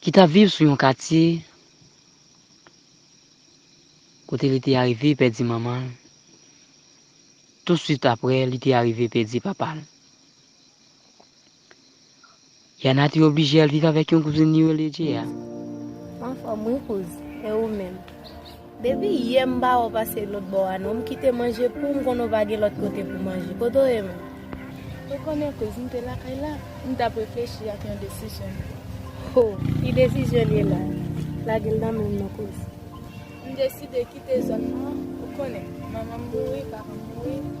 ki t ap viv sou yon katye kote li te arive pèdi manman l, tousuit apre li te arive pèdi papa l. Yana te oblije al viv avèk yon kouzin li rele Jeya. Mwen anfòm wi kouz, e ou menm? Depi yè m pa wè w pase lòt bò a non, m kite manje poum konnen w pa gen lòt kote pou manje. Kote w ye menm? Ou konnen kouz m te lakay la, m tap reflechi ak yon desizyon m pran. Ho, ki desizyon l ye la? Lage l nan menm non kouz. M deside kite zòn nan, ou konnen, manman m mouri, papa m mouri.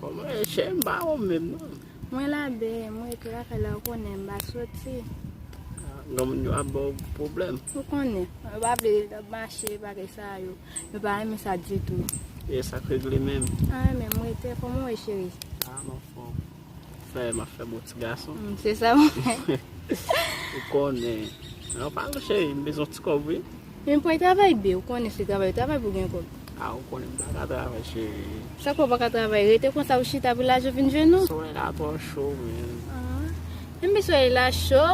Bon mwen chè m pa wonm menm non. Mwen la bee, mwen rete lakay la ou konnen m pa soti. Gran moun yo ap ba w pwoblèm. Ou konnen, yo pa vle nan mache bagay sa yo. Yo pa renmen sa ditou. E sa k regle menm? Anyen menm, mwen rete. Kòman ou ye cheri? A m anfòm. Fè m ap fè bon ti gason. M se sa mwen. Ou konnen. An pale cheri, m bezwen ti kòb wi. Men pway travay bby ou konnen se travay ou travay pou gen kob. Ah ou konnen m paka travay chérie. Sa fè w paka travay rete konsa ou chita pou lajan vin jwenn ou. Solèy la twò cho menn. Ah ebyn solèy la cho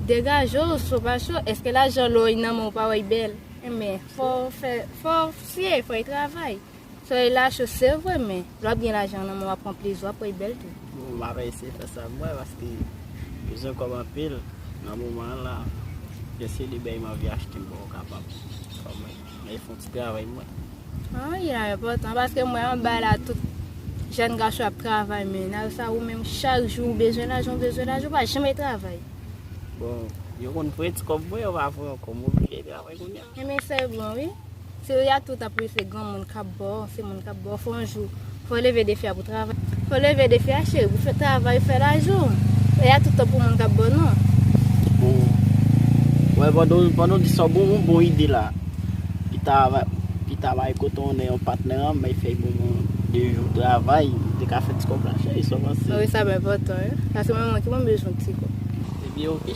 degaje w cho pa cho eske lajan lò nan men w pa wè y bèl ebyn fò w fè fò w fye fò y travay. Soleil la cho sevre men lè wap gen lajan nan men w wap pran plezi w ap wè bèl tou. Bon map eseye fè sa pou mwen paske bezwen kòb anpil nan moman an la gen selibè m anvi achte m bon kapab fò mwen mèt fon ti travay pou mwen. An wi la enpòtan paske m wè anba la tout jèn gason ap travay men nan sa ou menm chak jou ou bezwen lajan ou bezwen lajan ou pa janm travay. Bon yo konn pran ti kòb mwen yo pa pran ankò m oblije travay kounya. Enben sa yo bon wi. Ti ria tout ap ri se gran moun kap baw se moun kap baw fò yon jou fò leve defi a pou travay. Fò leve defi a cheri pou fè travay fè lajan e a toutan pou moun kap baw non. Bon wè pandan w di sa w bon yon bon ide la pita pita bay koton one yon patnè an bay fèy bonbon an 2 jou travay ou te ka fè ti kòb la cheri sa w panse. Wi sa ap enpòtan wi paske mwen menm ki bon bezwen ti kòb. Ebyen ok.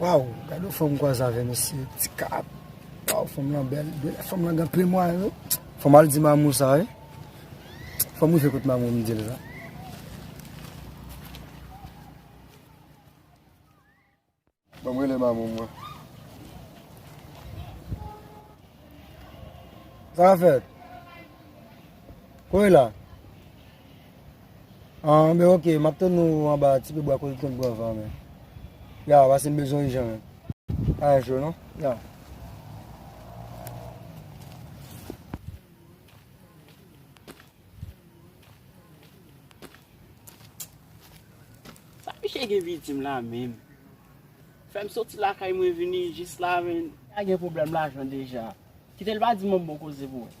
Waw, gade yon fanm kwa zave mesye, ti kap, waw fanm lan bel, fanm lan gen pil mwa yo, fanm al di mamou sa e, fanm mou fekot mamou mi di l la. Ban m rele Mamoun mwen. Sa k fèt? Ko e la? An, men ok, m ap tann ou anba ti pye bwa kote l konn pran van men. Ya, pase m bezwen w ijan menm. Pa gen cho non. Ya. Sa misye gen vi dim la menm. Fèm soti lakay mwen vini jis la men. Sa gen pwoblèm lajan deja. Kitel pa di mwen bon koze pou ou.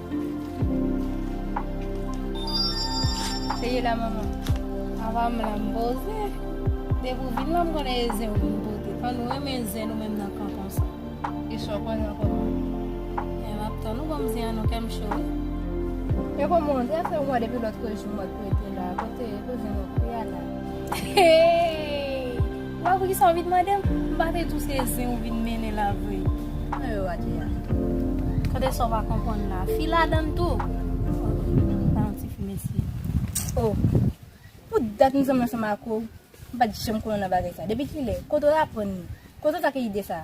Seye la manman. Avan m la m boze. Depi ou vin la m konnen e zen ou vin pote. An nou renmen zen nou menm nan kanton sa. E sa w konnen ankò manman. E m ap tann ou ban m zen an non kè m cho wi. E kòman w ye? Sa fè yon mwa depi lòt jou m wè pou w te la. Kote zen w yo? Pou y al la? Heyy! Wè pou kisa ou vin mandem? M pa te di w se zen ou vin mennen la vre. Mwen wè w a Jeya. Kote sa w pa konprann la? Fi ladann tou. Ou pa yon ti fi mesye. Oh! Pou dat m zanmi ansanm ak ou, m pa t janm konnen nan bagay sa. Depi kilè? Kote w aprann li? Kote w t ak ide sa?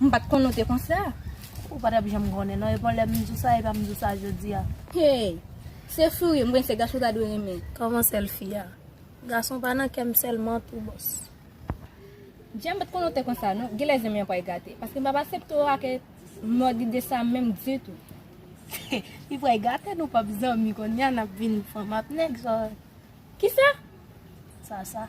M pat konnen w te konsa. Ou pa tap janm konnen non epon lèm di w sa epa m di w sa jodi a. Hey Se fou wi m prese gason ta dwe renmen. Kòman sèl fi a. Gason pa nan kèm sèlman tou boss. Jay m pat konnen w te konsa non genlè zanmi an pral gate paske m pap asepte w ake mòd ide sa menm ditou. Li pral gate nou pap zanmi kounya nap vin fanm ak nèg sa. Kisa? Sa sa.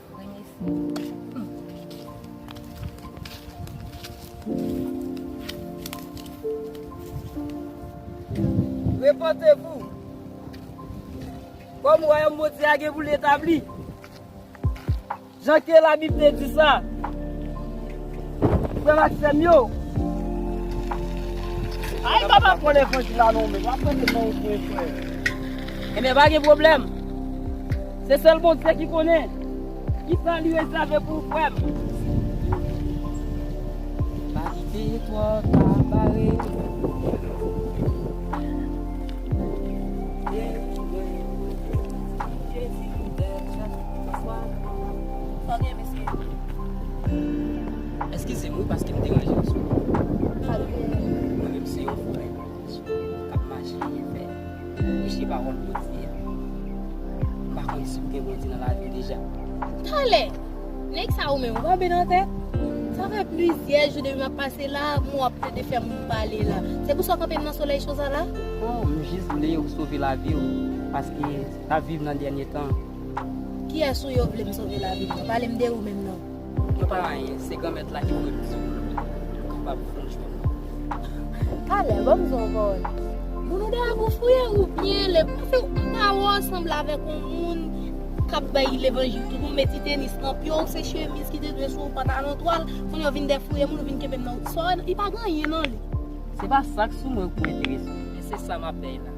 Repante vou! Kom wayom Bondye a gen pou li etabli, jan ke labib te di sa, frem ak sem yo, Ay kom wap pran levanjil la non menm, wap pran levanjil pou yon frè. Enben pa gen pwoblem. Se sel bondye ki konnen. Ki pran li rezève pou ou frèm. Paske twò ta bare. Eskize m wi paske m deranje w sou. Ti moun yo kap mache ye fè Peche pawòl Bondye a M pa konn si w gen Bondye nan lavi w deja Tale! Nèg sa ou menm ou pa byen nan tèt? Sa fè plizyè jou depi m ap pase la Men w ap plede fè moun pale la Se pou sa w kanpe m nan solèy cho sa la? Oh m jis vle ou sove lavi w Paske n ap viv nan dènye tan Kiyès ou yo vle m sove lavi m nan? Pale m de ou menm non? Yo pa anyen, se Granmèt la ki voye plis moun ki kapab franchman. Talè, ban m di w yon pawòl. Moun ou deyò pou fouye ou byen lè pase w yon pawòl sanble avèk yon moun k ap bay levanjil tout, ou met ti tenis nan pye w, se chemiz ki te dwe sou ou, pantalon twal, kounye a w vin defouye moun, ou vin kenbe m nan wouti. Sa w wè nan li pa gen anyen nan li. Se pa sa k sou mwen ou enterese w, men se sa m ap bay la.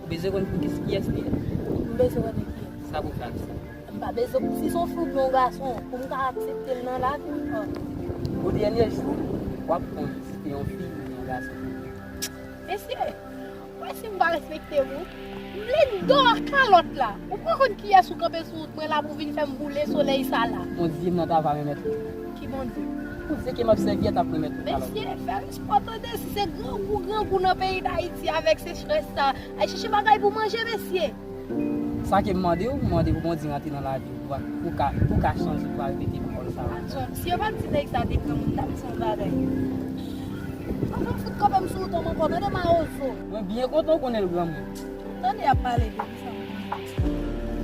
Ou bezwen konn pou kis kiyès li ye? M bezwen wè nèg yo. Sa pou fè ak sa? M pa bezwen pou si son fi oubyen yon gason pou m ka aksepte l nan lavi m an. Pou dènye jou w ap konn si se yon fi oubyen yon gason. Mesye! Ou wè si m pa respekte m wi. M vle m dò ak kalòt la. Ou pa konn kiyès ou kanpe sou wout mwen la pou vin fè m boule solèy sa la. Bondye m nan ta va remèt ou. Ki Bondye? Bondye ke m ap sèvi a t ap remèt ou kalòt. Mesye! Fè m Wap tande si se grangou grangou nan peyi dayiti avek sechrès sa Al chèche bagay pou manje mesye. Sa kem mandew ou mande pou Bondye rantre nan laviw pou ka pou ka chanje pou ka repete pawòl sa. Atchon si yo pat di nèg sa te granmoun tap di yon bagay An fèm fout kanpem sou ou Tom ankò tande mawozo. Mwen byen kontan ou konnen l granmoun. Tande yap pale de.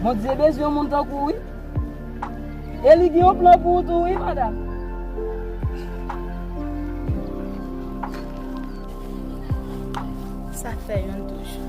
Bondye bezwen yon moun tankou w wi. E li gen yon plan pou ou tou wi madam. Sa k fè yon touche.